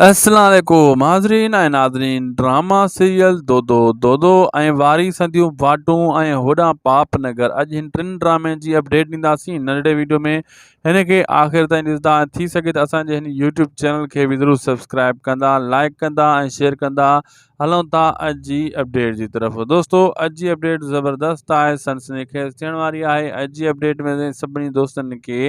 السلام عليڪم حاضرين ۽ ناظرين ڊراما سيريل دودو دودو ۽ واري سنديون واٽون ۽ هوڏانهن پاپ نگر اڄ هن ٽن ڊرامين جي اپڊيٽ ڏينداسين ننڍڙي ويڊيو ۾ هن کي آخر تائين ڏسندا ۽ ٿي سگهي ته اسان جي هن يوٽيوب چينل کي به ضرور سبسڪرائب ڪندا لائڪ ڪندا ۽ شيئر ڪندا هلون ٿا اڄ جي اپڊيٽ جي طرف دوستو اڄ جي اپڊيٽ زبردست آهي سنسني خيز ٿيڻ واري آهي اڄ جي اپڊيٽ ۾ سڀني دوستن کي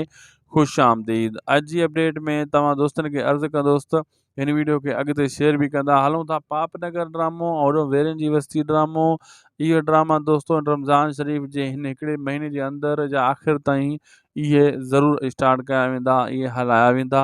خوش آمديد اڄ جي اپڊيٽ ۾ توهان دوستن کي عرض ڪندوس ته هن ويڊيو کي اڳتي شيئر به ڪندا هلون ٿا پاپ نگر ڊرامو اوڏو ويرين جي وستي ڊرامو اهي ڊراما دوستو رمضان شريف جي هن هڪڙي مهيني جي اندر جا آخر تائين اهي ضرور اسٽارٽ ڪيا ويندا اهي هلايا ويندا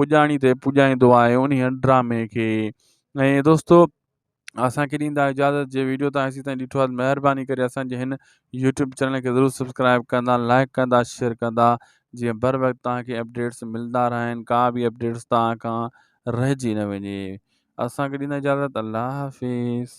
پڄاڻي تي پڄائيندو آهي انهي ڊرامي کي ۽ دوستو اسانکي ڏيندا اجازت جي ويڊيو تان اسين تائين ڏٺو آهي مهرباني ڪري اسانجي هن يوٽيوب چينل کي ضرور سبسڪرائب ڪندا لائڪ ڪندا شيئر ڪندا جيئن بر وقت تان کي اپڊيٽس ملدا رهن ڪا به اپڊيٽس تان کان رهجي نه وڃي اسانکي ڏيندا اجازت الله حافظ